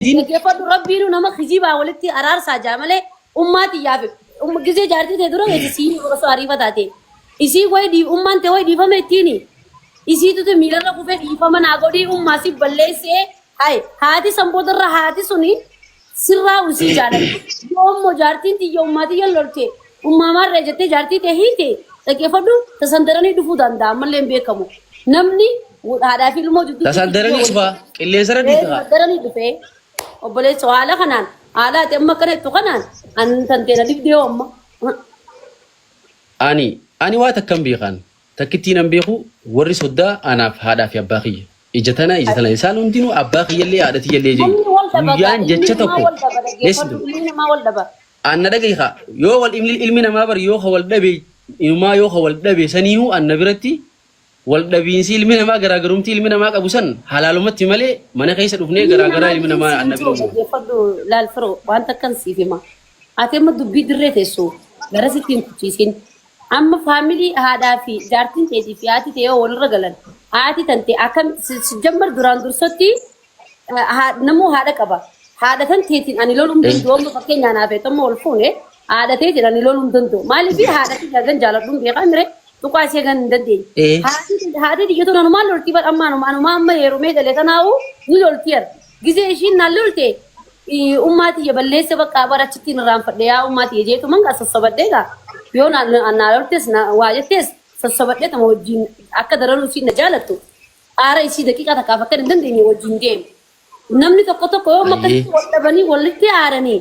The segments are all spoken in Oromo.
Diin Dhaggeeffadhu rabbiinu nama kijibaa walitti araarsaa jaa malee ummaa tiyyaaf um- gisee jaartii tee dura beeti sii osoo ariifa taate isii wayi dhii ummaan tee wayi dhiifama ittiini isii tute miilarra kufee dhiifama naa godhii ummaa si balleessee hay haati san boodarra haati suni sirraa usii jaaladhu yoommoo jaartiin tiyya ummaa tiyya lolte Ummaa maarree jettee jaartii tee hiite dhaggeeffadhu tasan daranii dhufuu danda'a ammallee hin beekamu. Namni haadhaa fi ilmoo jidduu Tasan daranii dhufaa qilleensarra Ee, dhiitaa. daranii dhufee obboleessoo haala kanaan haala ati amma akkana jettu kanaan an tanteena dibdee hoo amma. Ani ani waa takkan beekaan takkittiin an beeku warri soddaa anaaf haadhaa fi abbaa kiyya. Ija tana ija tana isaan hundinuu abbaa kiyyallee haadha tiyyallee jechuudha. Namni wal dhabata Guyyaan ilmi jecha namaa tokko wal dhaba dhaggeeffadhu ilmi namaa wal dhaba. An na dhagahi kaa yoo wal dhabne ilmi namaa bar yoo ka wal dhabe inumaa yoo ka wal dhabe saniihu an na biratti wal dhabiinsi ilmi namaa garaagarumti ilmi namaa qabu san halaalumatti malee mana keessa dhufnee Diini garaagaraa namaa ilmi diin namaa an na bira siitoo uumamu. dhaggeeffadhu laal firoo waan takkan siif hima. Ati amma dubbii dirree teessu gara sitti hin kuchiisin. Amma faamilii haadhaa fi jaartiin teetii fi haati tee yoo walirra galan haati tante akkamitti si si jammar duraan dursatti haa- namuu haadha qaba. Haadha tan teetiin ani loluu hin danda'u. Amma fakkeenyaa naaf ta'e amma ol fuune haadha teetiin ani loluu hin danda'u. Maaliif haadha tiyya gan jaaladhu hin beekaa mire tuqaa ishee gan hin dandeenye. Eh. Haati- Haati tiyya tun anumaan loltii bar amma anuma anuma amma heerumee galee tanaa'u ni loltii ar. Gizee ishiin naan lolte eh, ummaa tiyya balleessa bakka bara achitti hin irraanfadhe yaa ummaa tiyya jeetu manga sassabadhee gaa. Yoo naan naan loltes na- waa jettes sassabadhee tama wajjin akka daranuu ishiin na jaalattu. Aara isii daqiiqaa takkaaf akkan hin dandeenye wajjin deema. Namni tokko tokko yoo Ayyee. makkatti wal dhabanii walitti aaranii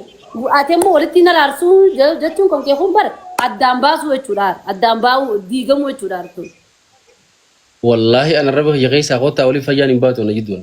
ati immoo walitti hin araarsuu je- jechuun kan kee kun bara addaan baasuu jechuudha. aara. Addaan baa'uu diigamuu jechuudha. aara kun. Wallaahi ana raba kiyya keessaa kottaa waliin fayyaan hin baatu na jidduun.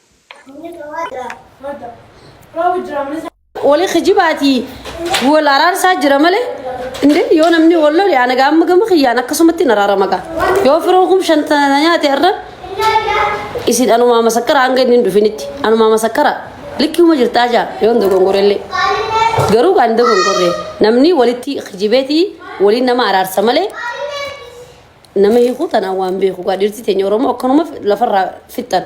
Wali kijibaati wal araarsaa jira malee indee yoo namni wal lole ana gaamma gama kiyyaan akkasumatti na raara maqaa yoo firoon kun shantana nyaate irra isin anumaa masakkara hanga inni hin dhufinitti anumaa masakkara likkiuma jirtaa jaa yoo hin dogongorellee garuu kan dogongorre namni walitti kijibeeti waliin nama araarsa malee Nama hiikuu tanaan waan beeku gaa dhiirti teenya Oromoo akkanuma lafarraa fixxan.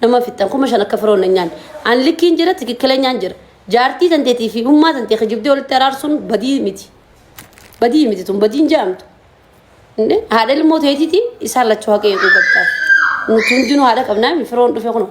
Nama fixxan kuma shan akka firoon hin nyaanne. An likkiin jira tikikkileenyaan jira. Jaartii tanteetii fi ilmaa tantee kijibdee walitti araarsuun badii miti. Badii miti tun badiin jaamtu. Inni haadha ilmoo teetiiti isaan lachuu haqa eeguu qabda. Nuti hundinuu haadha qabnaa firoon dhufe kunoo.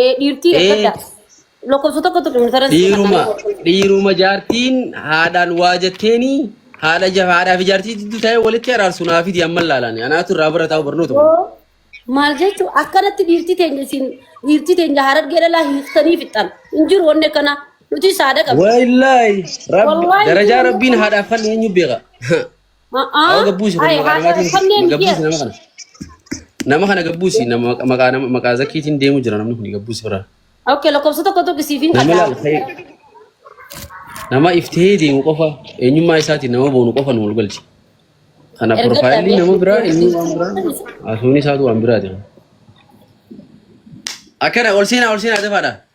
Eh, dhiirtii Ee, eeggadha. Lakkoofsa tokko tokko mutara itti naqanii dhiiruma warqee. dhiiruma jaartiin haadhaan waa jetteeni haadha ja- haadhaa fi jaartii jidduu taa'ee walitti araarsu naa fidi amma ilaalani anaatu irraa bara taa'u barnoota kun Yoo maal jechu akkanatti dhiirtii teenya isin dhiirtii teenya harargee dhalaa hiiktanii fixxan. Hin jiru wanni akkanaa. Nuti saada qabna. wallaahi rabbi Wallaahi darajaa jiru rabbiin wanni haadhaaf falli eenyu beeka Awa gabbuusi kun maqaa namaatiin kun gabbuusi nama kana. Nama kana gabbuusi nama maqa- maqaa nama maqaa zakkiitiin deemu jira namni kun gabbuusi biraa. Oke, lakkoofsa tokko tokko siif hin Nama kadhaa. ilaaltee nama iftee deemu qofa eenyummaa isaatiin nama boonu qofa nu wal galchi. Kana Erga piroofaayilii dhabee nama biraa inni waan biraa haasofni isaatu waan biraati. Akkana ol seenaa ol seenaa dafaadha.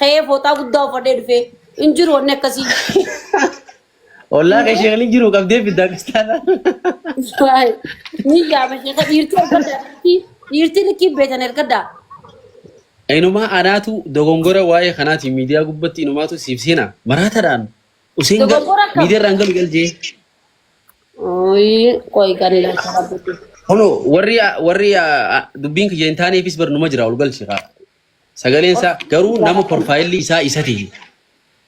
Ka'ee fooxaa guddaa uffadhee dhufee hin jiru wanni akkasii. Ollaa kee sheekni hin jiru qabdee fidda akkas taanaan. Waay, Ni yaama sheeka dhiirtii ergaddaa dhiirtii dhiirtii likkii beetan ergaddaa. Inumaa anaatu dogongora waa'ee kanaatiin miidiyaa gubbatti inumaatu siif seena. Maraatadhaan Useen gal Dogoggora akkam? miidiyaarraan galu galjee. Ooyi qoy kan ilaalcha qabdu. Kunoo warri warri ah, ah, dubbiin kiyya hin taaneefis barnuma jira ol galchi kaa. Sagaleen isaa garuu nama porfaayilli isaa isa ta'e.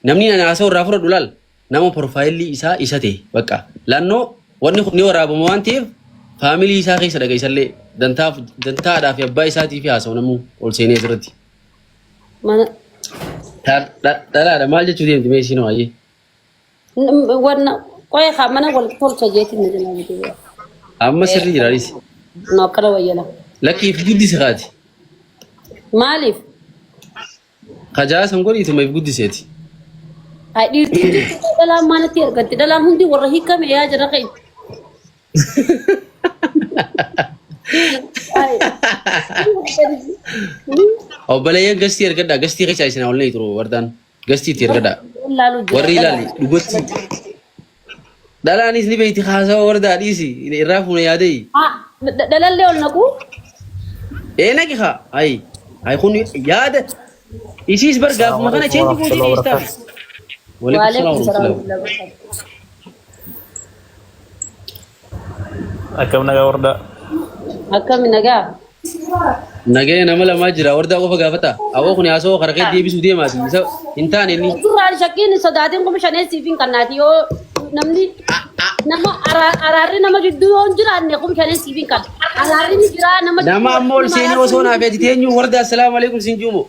Namni ani haasa'u irraa fudhadhu laal nama porfaayilli isaa isa ta'e bakka laannoo wanni kun ni waraabama waan ta'eef faamilii isaa keessa dhaga isallee dantaa dantaa haadhaa fi abbaa isaatii fi haasa'u namuu ol seenee asirratti. Mana Dha- dha- Dhalaadha maal jechuu deemti mee isiin waayee. N- Wanna qoya kaa mana wal tolcha jeetiin na jalaa bitee yaa. Amma sirrii jira anis. No akkana wayyala. Lakkii if guddise kaati. Maaliif? Kajaa san godhiituma if guddiseeti. Haa dhiirti hin jirtu koo dhalaan maalitti argatti? Dhalaan hundi warra hiikame yaa jira keenya. Ay. Obboleeyyan gastii argadhaa gastii keessa isin hawlanii turu wardaan. Gastii itti ergadhaa. Wal laalu jira. Warri dhala. ilaali dhugatti dhalaanis ni beeyti haasawa wardaa dhiisi irraa fuuna yaadayi. Ah, dha- Dhalallee ol naquu. Ee naqi haa hayi hayi kun yaada isiis bar gaafuma kana cheenji gootee dhiistaa. Waalaikum salaam Waalaikum salaam warahmatullahi wabarakatuh. Akkam nagaa wardaa. Akkami nagaa? Nagaya nama lamaa jira wardaa qofa gaafata. Awoo kun haasawoo karaa kee deebisuu deemaati. Isa hin taane inni. Suuraan shakkiin hin sodaatin kuma shanee siif hin kannaati yoo namni nama araa- araarri nama gidduu yoo hin jiraanne kuma shanee siif hin kanna. Araarri ni jira nama Nama amma ol seenee osoo naaf eeti teenyu wardaa assalaamu alaikum siin juumo.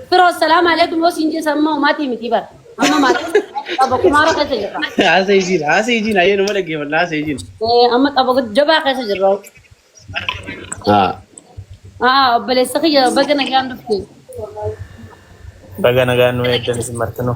Bro, assalamu alaikum. Yoo siin jeessa amma umaatii miti bara. Amma maatii qaba kumaara keessa jirra. Haasa isiin, haasa isiin, ayyee nama dhaggeeffadha, haasa isiin. Eh, Amma qaba jabaa keessa jirra. Haa. Ah, obboleessa kiyya baga nagaan dhufte. Baga nagaan nu eegdan isin martinuu.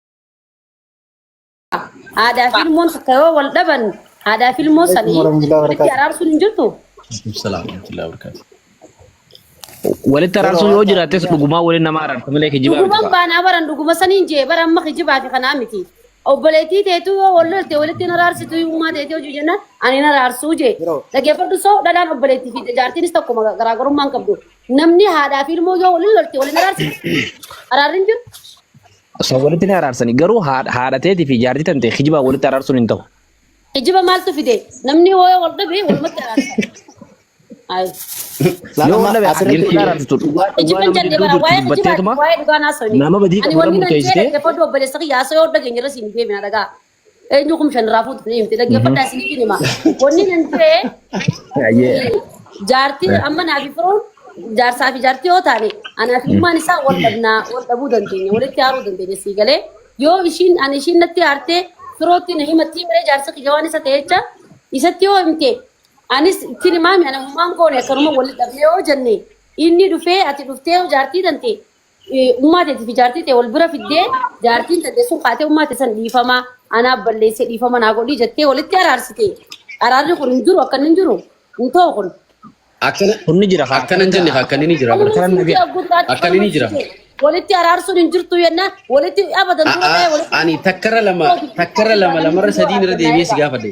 Aadaa fi ilmoon takka yoo wal dhaban aadaa fi ilmoo sanii walitti araarsuun hin jirtu. Walitti araarsuun yoo jiraates dhugumaa waliin nama araarsa malee kijibaa miti. Dhuguman baanaa baran dhuguma saniin jee bara amma kijibaa fi kanaa miti. Obboleettii teetu yoo wal lolte walitti hin araarsitu uumaa teetu hojii jennaan ani hin araarsuu jee. Dhaggeeffadhu soo dhalaan obboleettii fi jaartiinis tokkuma garaagarummaa hin qabdu. Namni haadhaa fi ilmoo yoo wal lolte wal hin araarsitu. Araarri hin jiru. Osoo walitti ni araarsani garuu haadha haadha teetii fi jaartii tantee kijibaa walitti araarsuun hin ta'u. Kijiba maaltu fide? Namni yoo wal dhabe walumatti araarsa. Ayi. Laal Yoo amma wal dhabe asirratti dhiirti araarsitu dhugaa dhugaa Kijiban nama jannee gidduu bara jirtu Eenyu kum shan irraa fuutu ni himti. Dhaggeeffadhaa isiniif hin hima. Wanni nan ta'e Ayyee. jaartii amma naa fi firoon jaarsaa fi jaartii yoo taane anaa fi ummaan isaa wal dhabnaa wal dhabuu dandeenya walitti haaruu dandeenya sii galee yoo ishiin ani ishiin natti haartee firootti na himattii miree jaarsa kiyya waan isa ta'e jecha isatti yoo himte anis ittiin himaami ana ummaan koone akkanuma walitti dhabnee yoo jenne inni dhufee ati dhuftee yoo jaartii tante ummaa teetiif ijaartii ta'e wal bira fiddee jaartiin tante sun kaatee ummaa ta'e san dhiifama anaaf balleessee dhiifama naa godhii jettee walitti araarsite araarri kun hin jiru akka inni hin jiru hin ta'u kun Akkana Kun ni jira kaa. akkana hin jenne kaa akkana ni jira. Akkana hin jira. Akkana ni jira. walitti araarsuun hin jirtu yenna walitti abadan dura ta'e A'a, walitti ani takkarra lama takkarra lama lamarra sadiin irra deebi'ee si gaafadhe.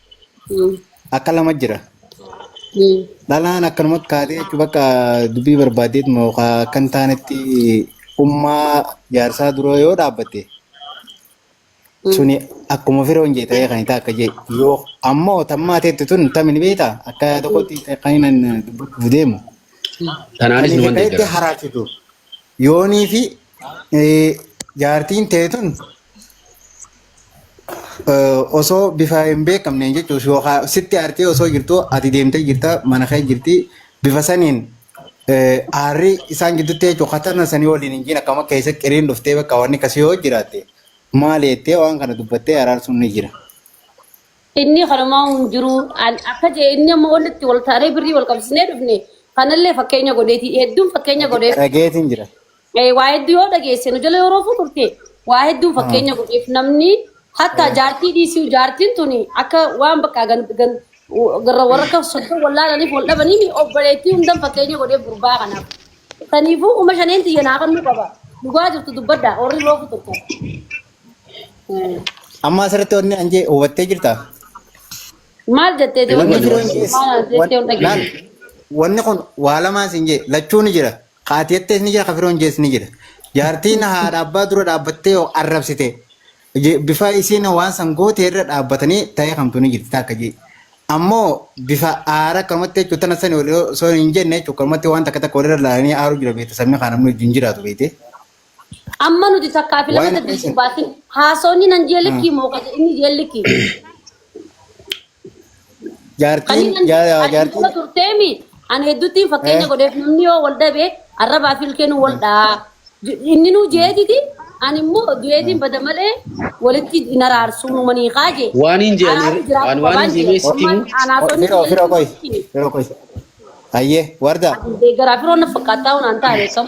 Mm. Akka lama jira. Mm. Dhalaan akkanumatti kaatee jechuun bakka dubbii barbaaddeet moo akka hin taanetti ummaa jaarsaa dura yoo dhaabbatte Mm. suni akkuma firoon jee ta'ee kan hin taakka jee yoo ammoo tammaa teetti tun tamin beekta akka tokkotti kan hin dubbachuuf deemu. Tanaanis Ani numan hikaayetti deeggara. haraarsitu. yoonii fi eh, jaartiin teetun eh, osoo bifa hin beekamneen jechuus yookaan sitti aartee osoo jirtu ati deemtee jirta mana kee jirti bifa saniin eh, aarri isaan gidduutti jechuun katana sanii waliin hin jiin akkama keessa qiriin dhuftee bakka wanni akkasii yoo jiraatte maal jettee waan kana dubbattee araarsuun ni jira. Inni kanumaa hin jiru An- akka jee inni amma wanti itti wal taanee birrii wal qabsiisnee dhufne kanallee fakkeenya godheeti hedduun fakkeenya Dhage- godheef Dhageetiin jira. Eh, waa hedduu yoo dhageesse nu jala yeroo futurte waa hedduun Hmm. fakkeenya godheef namni hatta Eh, jaartii dhiisuu jaartiin tuni akka waan bakka gan, gan, garra warra akka soddon wallaalaniif wal dhabaniin obboleettii hundan fakkeenya godheef gurbaa kanaaf. Saniifuu uma shaneen tiyya naa kannuu qaba. Dhugaa jirtu dubbadha warri yeroo futurtan. Amma asirratti wanni an jee hubattee jirtaa? Maal jettee Wanni Wanni jiru jettee jees maal jettee hin laal dhageessu. wanni kun waa lamaan siin jee lachuu ni jira. Haati jettees ni jira kafiroon jees ni jira. Jaartiin haadha abbaa dura dhaabbattee yoo arrabsite je- bifa isiin waan san goote irra dhaabbatanii ta'ee kamtu ni jirti takka jee. Ammoo bifa aara akkanumatti jechuun tana sani wal osoo hin jenne jechuun akkanumatti waan takka takka walirra laalanii aaruu jira beekte sabni kaan namni wajjin jiraatu beekte. Amma nuti takkaa fi lama Waan saddeet keessa dubaatin haasoonni nan jee Ah. likkii moo kaje inni jee likkii. jaartiin Kaniin an jaa- ati jaartiin dura turteemi an hedduutti fakkeenya Eh. godheef namni yoo wal dhabe arrabaa fi ilkeen wal dhaa. Inni nuu jeetiti an immoo du'eetiin bada malee walitti hin araarsuu nu manii kaaje. Waan hin je'an Araarri jiraatu waan waan qabaan hin jee. sitti Ammaan himu. anaasonni firoo firoo koy jee. firoo koy ayyee wardaa Deeggaraa firoo na fakkaataa waan taa'e kam.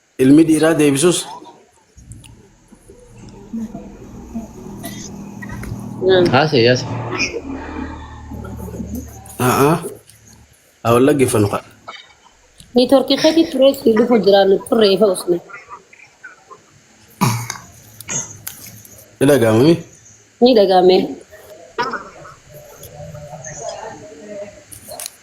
Ilmi dhiiraa deebisus Haasa yaasa. haa haa wal dhaggeeffannu kaa. Niitoorkii keetii turee si dhufu jira nu turre ifa usne. Ni dhaga'amami. Ni dhagaame.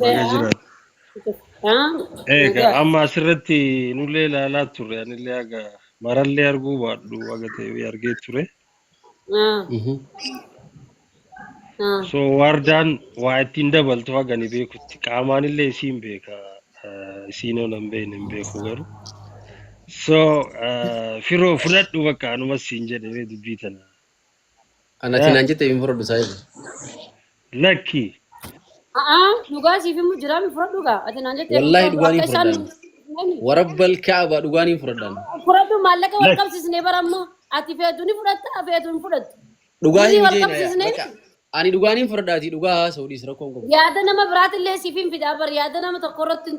Baga jiraatu. Egaa amma asirratti nullee ilaalaa turre anillee haga marallee arguu baadhu haga ta'e argee ture. So waardaan waa ittiin dabaltu haga ni beekutti qaamaanillee isiin beeka isiin oon hin beekne hin beeku garuu. So firoo fudhadhu bakka anumas siin jedhe dubbii tana. Ana ati naan jette hin fudhadhu saayibu. Lakki. A'aa dhugaa siif immoo jiraami fudhadhu gaa ati naan jettee Wallaahi fudhadhu dhugaan akka hin isaan fudhadhaan. nani Warabbal kaaba dhugaan hin fudhadhaan. fudhadhu maallaqa wal Lakki. qabsiisne bara ammoo ati feetu ni fudhatta feetu hin fudhattu Dhugaa birrii hin wal jeena yaa. qabsiisne Bakka ani dhugaan hin fudhadhaati dhugaa haasa'u dhiis rakkoo hin qabu. yaada nama biraatillee siif hin fidaa bar yaada nama tokko irratti hin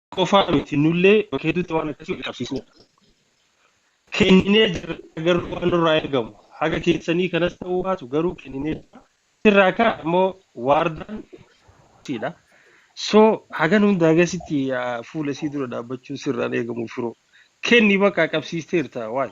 qofaa miti nullee bakka hedduutti waan akkasii wal qabsiisneedha. Kenninee jirra garuu waan nurraa eegamu haga keessanii kanas ta'uu baatu garuu kenninee jirra. Sirraa kaa immoo waardaan siidha. So hagan hunda hagasitti ah, fuula isii dura dhaabbachuun sirraan eegamu firoo. Kenni bakka qabsiisteerta waay.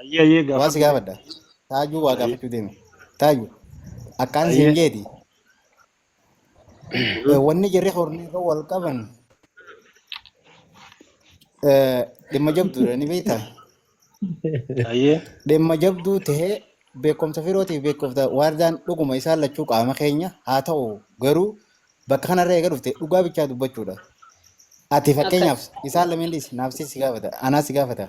Ayyee ayyee Waan si gaafadhu. gaafadha. Taajuu waa Ayyee gaafachuu deemi. Taajuu akkaan siin ayyee. jeeti. Mhm. eh, Wanni jarri hornii irra wal qaban eh, dhimma jabduudha ni beektaa? Ayyee. Dhimma jabduu ta'ee beekumsa firootiif beekumsa waardaan dhuguma isaan lachuu qaama keenya haa ta'u garuu bakka kanarra eega dhufte dhugaa bichaa dubbachuudha. Ati Akkas. fakkeenyaaf isaan lameenis naaf si gaafata anaa si gaafata.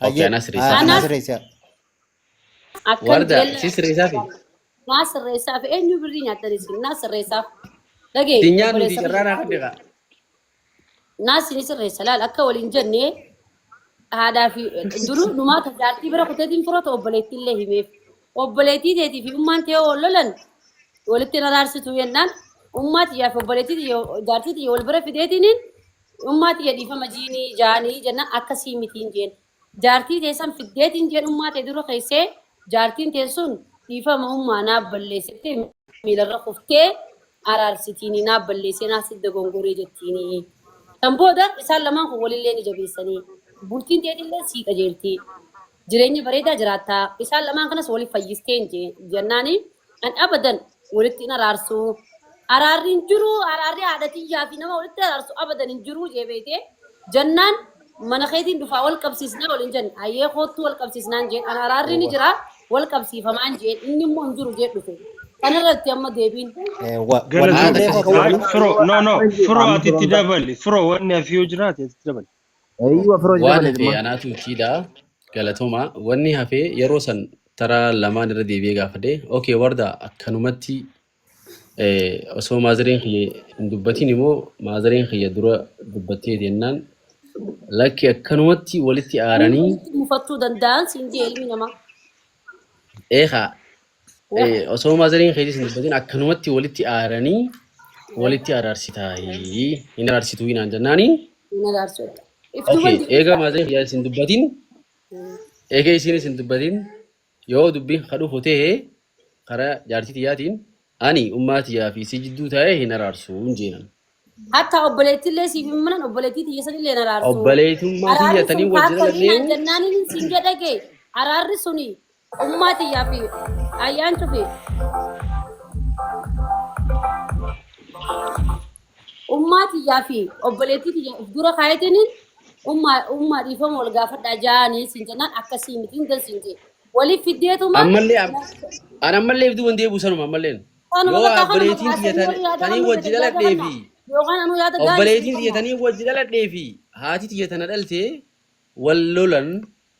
Okay, Hayyee, anaa sirreessaa ah, fi. anaa Kanaaf sirreessaa. akkan Warda, jeellee si sirreessaa fi. naa sirreessaaf eenyu birrii nyaattan isin naa sirreessaaf dhagee Ittiin nyaannu fi obboleessa carraa naa kiyya fiddeeqa. naa sini sirreessa laal akka waliin jenne haadhaa fi duru numaa ta jaartii bira kuteetiin furata obboleettii illee himeef obboleettii teetii fi ummaan tee wal lolan walitti hin araarsitu jennaan ummaa tiyyaa fi obboleettii tiyya jaartii tiyya wal bira fideetiniin Ummaa tiyya dhiifama jiini jaani jennaan akkasii mitiin jeen. Jaartii tee san fiddeetiin jeen ummaa tee dura keessee jaartiin tee sun dhiifama ummaa naaf balleessite miilarra kuftee araarsitiini naaf balleessee naaf sitti dogongoree jettiini. San booda isaan lamaan kun walillee ni jabeessanii bultiin teetillee sii qajeeltii. Jireenya bareedaa jiraatta. Isaan lamaan kanas waliif fayyistee hin jennaani an abadan walitti hin araarsu. Araarri hin jiru, araarri haadha tiyyaa fi nama walitti araarsu abadan hin jiru jee beeyte. Jennaan mana keetiin dhufaa wal qabsiisnaa waliin jenne. Ayyee koottuu wal qabsiisnaan jeen. An araarri ni jira wal qabsiifamaan jeen. Inni immoo hin jiru jee dhufe. Kanarratti amma deebiin. Galatoomi. Firoo, no, no, firoo ati itti dabali. Firoo wanni hafi yoo jiraate itti dabali. Eeyyuu afroo waan dabaleeti hafe ma. anaatu kiidha galatoma wanni hafe yeroo san tara lamaan irra deebi'ee gaafadhe okay warda akkanumatti eh, osoo maazareen kiyya hin dubbatin immoo maazareen kiyya dura dubbattee jennaan lakki akkanumatti walitti Inni aaranii walitti mufattuu danda'an siin jee ilmi namaa. eegaa Wah. Eh, osoo maazariin keetis hin dubbatin akkanumatti walitti aaranii Wah. walitti araarsitaa hin araarsituu hinaan jennaani. Hin araarsu. If duuban Okay, eega deebisa. maazariin kiyyaa isin dubbatin Hmm. eega isiin isin dubbatin yoo dubbiin ka dhufu ta'e karaa jaartii tiyyaatiin ani ummaa tiyyaa fi isii jidduu taa'ee hin araarsu hin jeenan. Hatta obboleettillee siif hin manan obboleettii tiyya sanillee hin araarsu. Obboleetummaa tiyya Araarri sun tanii wajjin kaakkamii naan alallee jennaaniin siin jedhage araarri suni Ummaa tiyyaa fi ayyaan cufi. Ummaa tiyyaa fi obboleettii tiyya of dura kaayetiin ummaa ummaa dhiifama wal gaafadhaa jaanii siin jennaan akkasii miti hin dansiin jee. Waliif fiddeetuma Ammallee am- an ammallee ibduu hin deebi'u sanuma ammalleen. kanuma Yoo bakka kanuma obboleettiin tiyya kaasanii warri yaada tanii kanuu wajji yaada dhaladhee kanna. fi Yookaan anuu yaada gaarii obboleettiin tiyya kanna. tanii wajji dhaladhee fi haati tiyya tana dhalte wal lolan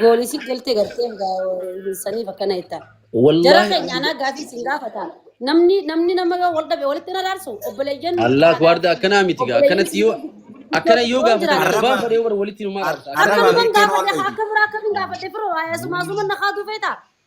Goolii si galtee galtee saniif akkana jettaa. Jara Wallaahi keenya anaa gaafii isin gaafata. Namni namni nama yoo wal dhabe walitti na raarsu obboleeyyan nuti Allah taanaan waarda akkanaa miti gaa obboleeyyan akkanatti yoo isin akkana yoo yoo gaafatan jiraatan arrabaa Arraba. fadhee warra walitti numaa Ar- dhaabsa arraba. akkana Arraba. Akkanuman Hiikeen gaafadhe waan akka beeku. hin gaafadhe firoo haayasumaa suman na kaatu feeta.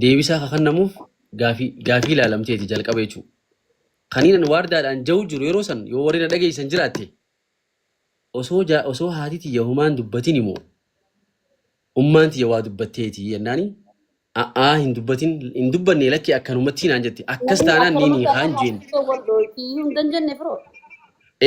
Deebisaa ka kannamuuf gaafii gaafii laalamteeti jalqaba jechuu. Kaniin an waardaadhaan ja'uu jiru yeroo san yoo warri na dhageeysan jiraatte osoo ja osoo haati tiyya homaa hin dubbatini moo ummaan tiyya waa dubbatteeti jennaani a'aa hin dubbatin hin dubbanne lakki akkanumattii naan jette akkas Namni taanaan akkanuma niin hiikaa hin jeen. jaallatee wal dhooyti iyyuu hin dandenne firoo.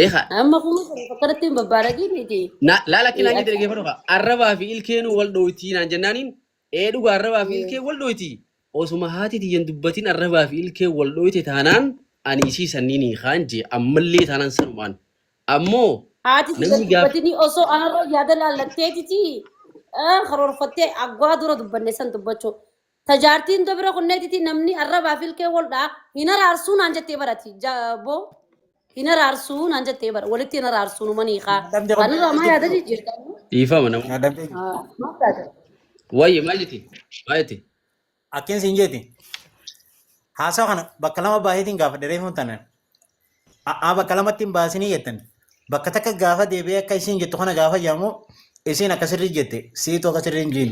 Eeha Amma kuma sana fakkaratti hin babbaaragiin iti. na laala akki naan jette dhageeffadhu kaa arrabaa fi ilkeenuu wal dhooytii naan jennaaniin Ee dhuga arrabaa fi ilkeen wal dhooyti. Osuma haati tiyya hin dubbatin arrabaa fi ilkeen wal dhooyte taanaan ani isii sanniin hiikaan jee ammallee taanaan sanumaan. Ammoo Haati tiyya namni gaaf dubbatinii osoo anarra yaada laallatteetiti eh, karoorfattee agwaa dura dubbanne san dubbachuu. Ta jaartiin dubra kunneetiti namni arrabaa fi ilkeen wal dhaa hin araarsuu naan jettee barati. Ja- Boo. Hin araarsuu naan jettee bara walitti hin araarsuu numan hiikaa. Adabdee Kan irraa maa yaada qabdee jijjiirta? Dhiifama nama. Adabdee jirti. Ah, Maaf taate? Wayye maal jeti? Maal jeti? Akkin siin jeeti. Haasawa kana bakka lama baaseetiin gaafa dheereeffamu tanan. A'aa bakka lamatti hin baasinii jettan. Bakka takka gaafa deebi'ee akka isiin jettu kana gaafa jaamu isiin akka sirrii jette siitu akka sirrii hin jiin.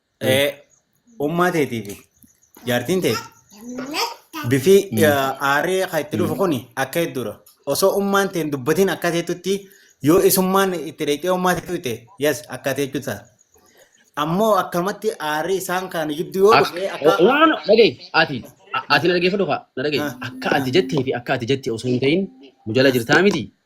Ummaa teetii fi jaartiin teeti bifi aaree kan itti dhufu kun akka hedduudha. Osoo ummaan teen dubbatiin akka teetutti yoo isummaan itti dheeqee ummaa teetu ta'e yes akka teetu ta'a. Ammoo akkamatti aaree isaan kan gidduu yoo dhufe akka Waan dhagaye ati ati na dhageeffadhu kaa na dhagaye akka ati jettee fi akka ati jette osoo hin ta'in nu jala jirtaa miti.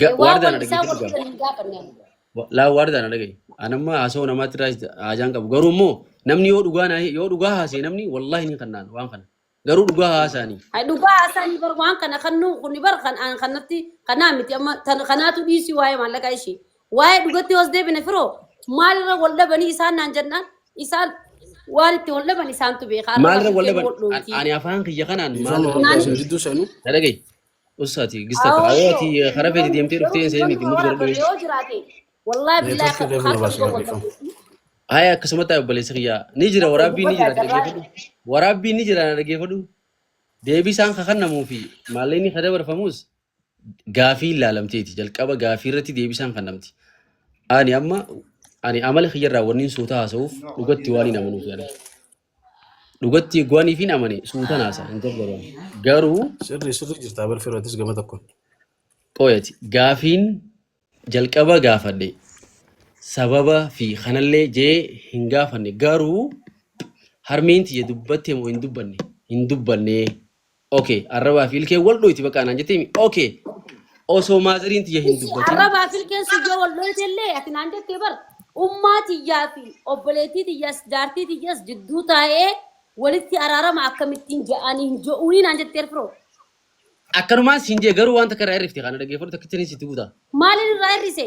Ga- Waan Waardaan wal isaa argitee wal dhugaa. hin gaafanne. Wa- Laa waardaan argee. Anamma haasoo namaatti irraa haajaan qabu. Garuu immoo namni yoo dhugaa naa- yoo dhugaa haasee namni wallaahi ni kannaan waan kana. Garuu dhugaa haasaanii. Hai dhugaa haasanii bar waan kana kan nu kun bar kan aan kanatti kanaa miti amma tan kanaatu dhiisii waa'ee maallaqaa ishii. Waa'ee dhugatti hoos deebine firoo maalirra wal dhabanii isaan naan jennaan isaan waan itti wal dhaban isaantu beeka. Har'a Maalirra wal wal dhaban? wal An- dhoofti. Ani afaan kiyya kanaan Ifama maalirra wal wal Naan- dhaban? isin jidduu seenuu. Na dhagahi. Ussa ati gista ta. Ayo ati Awoo kara feti namni demte dhufte garuu seen namni iti mut mooraa godhadhu tole mee. yoo jiraate wallaahi billaahi Network illee harka barbaachisa dhuga wal qabdu. dhiifama. Aya akkasumatti haa obboleessa kiyyaa. Ni jira Abbo waraabbii ni dubbadha jira ati carraa dhaggeeffadhu. Waraabbii ni jira na dhaggeeffadhu. Deebii isaan kakannamuu fi maalleenni ka dabarfamus gaafii ilaalamteeti. Jalqaba gaafii irratti deebii isaan kannamti. Ani amma ani amala kiyyarraa wanniin suuta haasa'uuf dhugatti waan hin amanuuf yaada. Dhugatti goaniif hin amane suutan haasa hin gargaran. Garuu Sirri sirri jirtaa bar firootis gama tokkoon. qoyati gaafiin jalqaba gaafadhe sababa fi kanallee jee hin gaafanne garuu harmeen tiyya dubbatte moo hin dubbanne hin dubbanne Okay, arrabaa fi ilkeen wal dhoyti bakka anaan jettee mi? Okay, osoo maazariin tiyya hin Issi dubbatin. arrabaa fi ilkeen sun yoo wal dhoyte illee ati naan jettee bar ummaa tiyyaa fi obboleettii tiyyaas jaartii tiyyaas jidduu taa'ee walitti araarama akkamittiin ja'anii hin jo'uunii naan jettee firoo. Akkanumaan siin jee garuu waan takka irraa hir'ifte kana dhaggeeffadhu takkitti ni sitti guuta. Maaliin irraa hir'ise?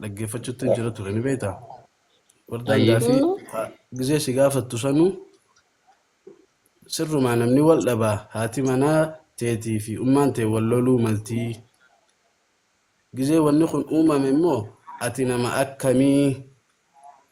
dhaggeeffachuutti hin jira ture ni beektaa? Wardaan Ayyee. gaafii haa- gizee si gaafattu sanuu sirrumaa namni wal dhabaa haati manaa teetii fi ummaan tee wal loluu maltii gizee wanni kun uumame immoo ati nama akkamii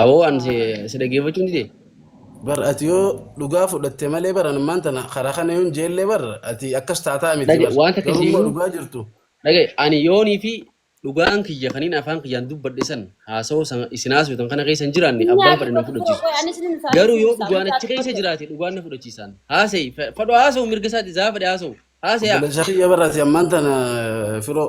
Aboo an si si dhaggeeffachuu ni dee. Bar ati yoo dhugaa fudhatte malee bar ani maanta na karaa kana yoon jeellee bar ati akkas taataa miti Dhage bar waan takka garuu immoo siyyuu dhugaa jirtu dhage ani yoonii fi dhugaan kiyya kaniin afaan kiyyaan dubbadhe san haasawoo san isin haasoftan kana keessa hin jiraanne Inni abbaan fedhe na haasofatu tokko fudhachiisu. qoy anis inni isaa Garuu yoo dubbisa dhugaan anis achi haasofatu keessa tokko. jiraate dhugaan na fudhachiisaan. Haasa'i fedhu haasawu mirga isaati zaa fedhe haasawu. Haasa'aa. obboleessa kiyya bar ati ammaan tana firoo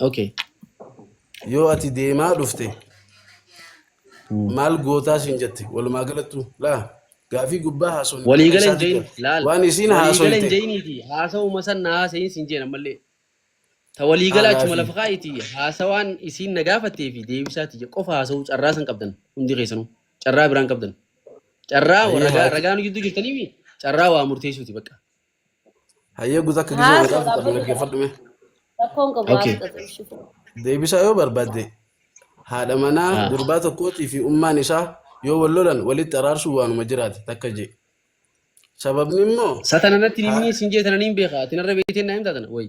Ok. Yoo ati deemaa dhufte maal gootaa siin jette walumaa galattu laa gaafii gubbaa haasofne bakka Waliigala hin isaatti jayin gal. laal. Waan isiin Waliigala hin haasoyte jayiniiti. Haasawuma san na haasayin siin jeen ammallee. Ta haa waliigala achuma gaafii. lafa kaa'iti haasawaan isiin na gaafattee fi deebisaati je qofa haasawuu carraa san qabdan hundi keessanuu. Carraa biraan qabdan. Carraa Hayyee ragaa haa ragaa nu jidduu jirtanii mi? Carraa waa murteessuuti bakka. Hayyee guutuu akka gizee Haa, godhaa soodhaa fudhadhu booda dhaggeeffadhu mee. rakkoon qabu Okay. haasudha xibishii. Deebisaa yoo barbaadde haadha manaa Ah. gurbaa tokkootii fi ummaan isaa yoo wal lolan walitti araarsuun waanuma jiraate takka jee. Sababni immoo Satana natti Haa. himni sin jeetana niin beeka. Ati narra beektee naa himtaa tana. Wayi.